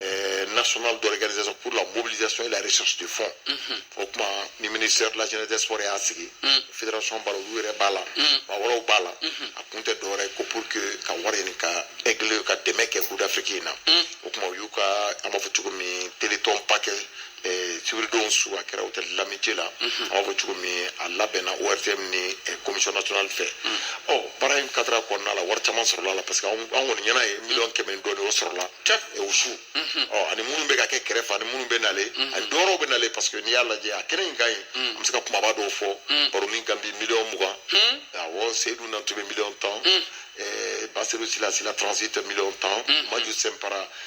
euh, national d'organisation pour la mobilisation et la recherche de fonds mhm. o tuma ni ministère de la jeunesse des sports y'a sigi mhm. fédération b'a la olu yɛrɛ b'a la mhm. maa wɛrɛw b'a la a kun tɛ dɔwɛrɛ ko pour que ka wari ɲini ka aigle ka dɛmɛ kɛ coupe d'afrique in na o tuma u y'u ka an b'a fɔ cogo min téléthon ba kɛ sibiridon su a kɛra hôtel l'amitié la an b'a fɔ cogo min a labɛnna ORTM ni commission nationale fɛ ɔ baara in cadre kɔnɔna la wari caman sɔrɔla la parce que an kɔni ɲɛna ye miliyɔn kɛmɛ ni dɔɔni o sɔrɔla o su ɔ ani minnu bɛ ka kɛ kɛrɛfɛ ani minnu bɛ nale ani dɔwɛrɛw bɛ nale parce que n'i y'a lajɛ a kɛnɛ in kan an bɛ se ka kumaba dɔw fɔ baruni ganbi miliyɔn mugan awɔ seyidu nantume miliyɔn tan basiru sila sila transit miliyɔn tan maju sinpara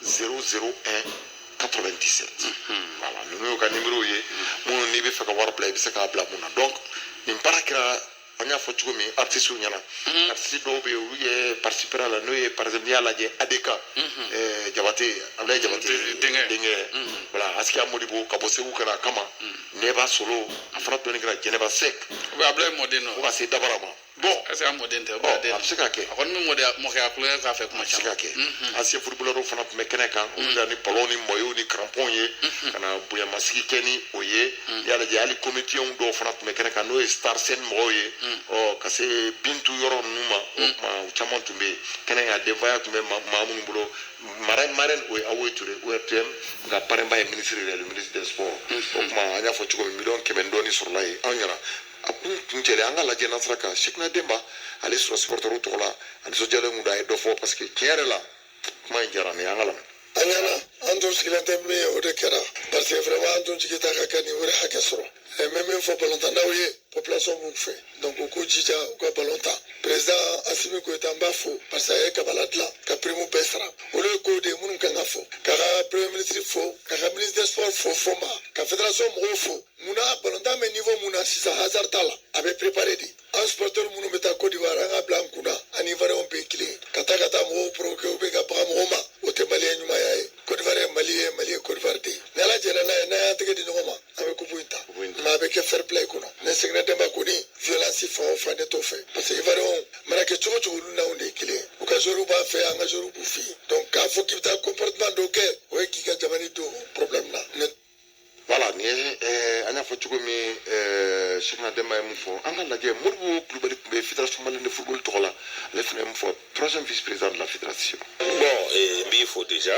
001 97 voilà ninnu y'u ka nimero ye minnu n'i bɛ fɛ ka wari bila i bɛ se k'a bila minnu na donc nin baara kɛra an y'a fɔ cogo min artisiw ɲɛna artisi dɔw bɛ yen olu ye participer a la n'o ye par exemple n'i y'a lajɛ ADK ɛɛ, jabate abulayi jabate Jabate denkɛ. denkɛ voilà asikiya modibo ka bɔ segu ka na a kama nɛba solo a fana dɔnni kɛra jɛnɛba sɛk Ou bien Ablaye Mɔden fo nɔ. ka se dabara ma bon est-ce que a mɔden tɛ bon a bɛ se ka kɛ a kɔni bɛ mɔdenya mɔkɛya kulonkɛ k'a fɛ kuma caman a bɛ se ka kɛ ancien footballeurw fana tun bɛ kɛnɛ kan olu na ni balɔnw ni mayow ni karanpɔnw ye ka na bonyamasegin kɛ ni o ye n'i y'a lajɛ hali komediyɛnw dɔw fana tun bɛ kɛnɛ kan n'o ye star scène mɔgɔw ye ɔ ka se bintu yɔrɔ ninnu ma o tuma u caman tun bɛ yen kɛnɛ kan denfaya tun bɛ maa minnu bolo marraine marraine o ye awoye ture ORTM nka parrain ba ye ministre de la le ministre des sports o tuma an y'a fɔ cogo min miliyɔn kɛmɛ ni dɔɔnin sɔrɔla yen anw ɲɛna kun kuncɛlen an ka lajɛ n'an sera ka sɛkina dɛnba ale sɔrɔ supɔrtɛriw tɔgɔ la a nisɔndiyalen tun don a ye dɔ fɔ parce que tiɲɛ yɛrɛ la kuma in diyara ne ye an k'a lamɛn an ɲɛna an tun sigilen tɛ min ye o de kɛra parce que vraiment an tun jigi t'a kan ka nin wari hakɛ sɔrɔ n bɛ min fɔ balontannaw ye population b'u fɛ donc u k'u jija u ka balon tan président asimi goyita n b'a fo parce que a ye kabala dilan ka prime bɛɛ sara olu ye kow de ye minnu kan ka fɔ k'a ka premier ministre fo k'a ka ministre des sports fo fɔnba ka fédération mɔgɔw fo munna balontan bɛ niveau min na sisan hasard t'a la a bɛ préparer de an supɔrtɛri minnu bɛ taa kodiwari an k'a bila an kun na an ni iwariyɛnw bɛɛ kelen ka taa ka taa mɔgɔw provoquer ou bien ka baga mɔgɔw ma o tɛ maliyɛn ɲumanya ye kodiwari ye mali ye mali ye kodiwari de ye ni ala jɛra n'a ye n'an y'an tɛgɛ di ɲɔgɔn ma an bɛ kupu in ta mais a bɛ kɛ fair play kɔnɔ ne sɛkina dɛnba kɔni violence fan o fan ne t'o fɛ parce que iwariyɛnw mana kɛ cogo cogo olu n'anw de ye kelen u ka joueurw b'an fɛ an ka joueurw b'u fɛ yen donc k'a fɔ k'i bɛ taa comportement dɔw kɛ o ye k'i ka jamana don problème na voilà nin ye eh, an y'a fɔ cogo min eh, sɛkina dɛnba ye mun fɔ an ka lajɛ modibo kulubali tun bɛ fédération malienne de football tɔgɔ la ale fana ye mun fɔ troisième vice président de la fédération bon eh, n b'i fo déjà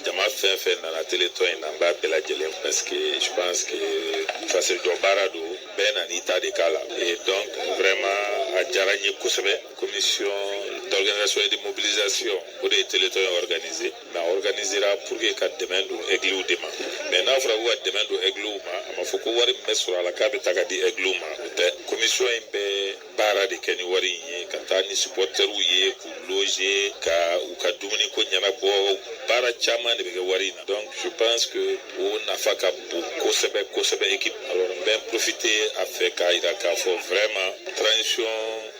jama fɛn fɛn nana téléthon in na n b'a bɛɛ lajɛlen parce que je pense que fasojɔ baara don bɛɛ nana i ta de k'a la donc vraiment a diyara n ye kosɛbɛ commission d'organisation et de mobilisation o de ye téléthon in organiser na organisera pour que ka dɛmɛ don aigliw de ma mais n'a fɔra ko ka dɛmɛ don aigliw ma a ma fɔ ko wari min bɛ sɔrɔ a la k'a bɛɛ ta ka di aigliw ma o tɛ commission in bɛ baara de kɛ ni wari in ye ka taa ni supportɛriw ye k'u loger ka u ka dumuni ko ɲɛnabɔ baara caman de bɛ kɛ wari in na donc je pense que o nafa ka bon kosɛbɛ kosɛbɛ équipe alors n bɛ profiter a fɛ k'a yira k'a fɔ vraiment transition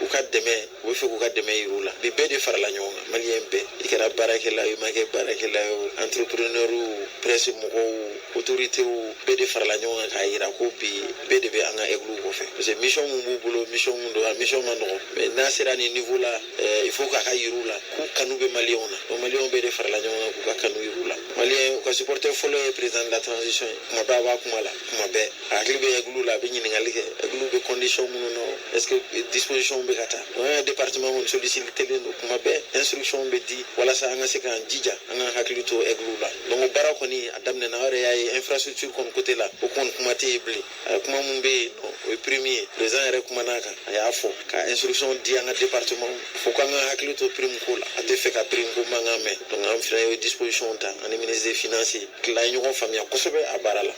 u ka dɛmɛ u bɛ fɛ k'u ka dɛmɛ yir'u la bi bɛɛ de farala ɲɔgɔn kan maliyɛn bɛɛ i kɛra baarakɛla ye i ma kɛ baarakɛla ye o entrepreneurw presse mɔgɔw autoritéw bɛɛ de farala ɲɔgɔn kan k'a yira ko bi bɛɛ de bɛ an ka aigliw kɔfɛ parce que mission min b'u bolo mission min don a mission man nɔgɔn mais n'a sera nin niveau la eh, il faut k'a ka yir'u la k'u kanu bɛ maliyɛnw na donc maliyɛnw bɛɛ de farala ɲɔgɔn kan k'u ka kanu yir'u la maliyɛn u ka supporter fɔlɔ ye président de la transition ye kuma bɛɛ a b'a kuma la kuma bɛɛ a hakili bɛ aigliw la a bɛ ɲininkali kɛ aigliw bɛ condition minnu na est ce que disposition bɛ ka ta an ka département kɔni sollicitélen don kuma bɛɛ instruction bɛ di walasa an ka se k'an jija an ka hakili to aigliw la donc o baara kɔni a daminɛna aw yɛrɛ y'a ye infrastructure kɔni côté la o kɔni kuma tɛ yen bilen kuma min bɛ yen o ye prime ye président yɛrɛ kumana a kan a y'a fɔ ka instruction di an ka département fo k'an ka hakili to prime ko la a tɛ fɛ ka prime ko mankan mɛn donc an fana ye disposition ta an ni ministre des finances tila ye ɲɔgɔn faamuya kosɛbɛ a baara la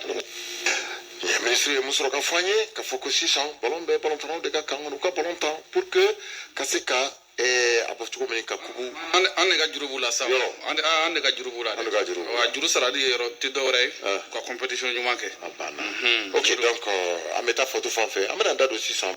ministre ye mun sɔrɔ ka fɔ an ye k'a fɔ ko sisan balon bɛ balontannaw de ka camp kɔnɔ u ka balon tan pour que ka se ka eh, a bɔ cogo min ka kupu an de ka juru b'u la sa an de ka juru b'u la an de ka juru wa juru sarali ye yɔrɔ tɛ dɔwɛrɛ ye ah. ka compétition ɲuman kɛ a banna mhm. ok donc euh, an bɛ taa fɔtu fan fɛ an bɛna da don sisan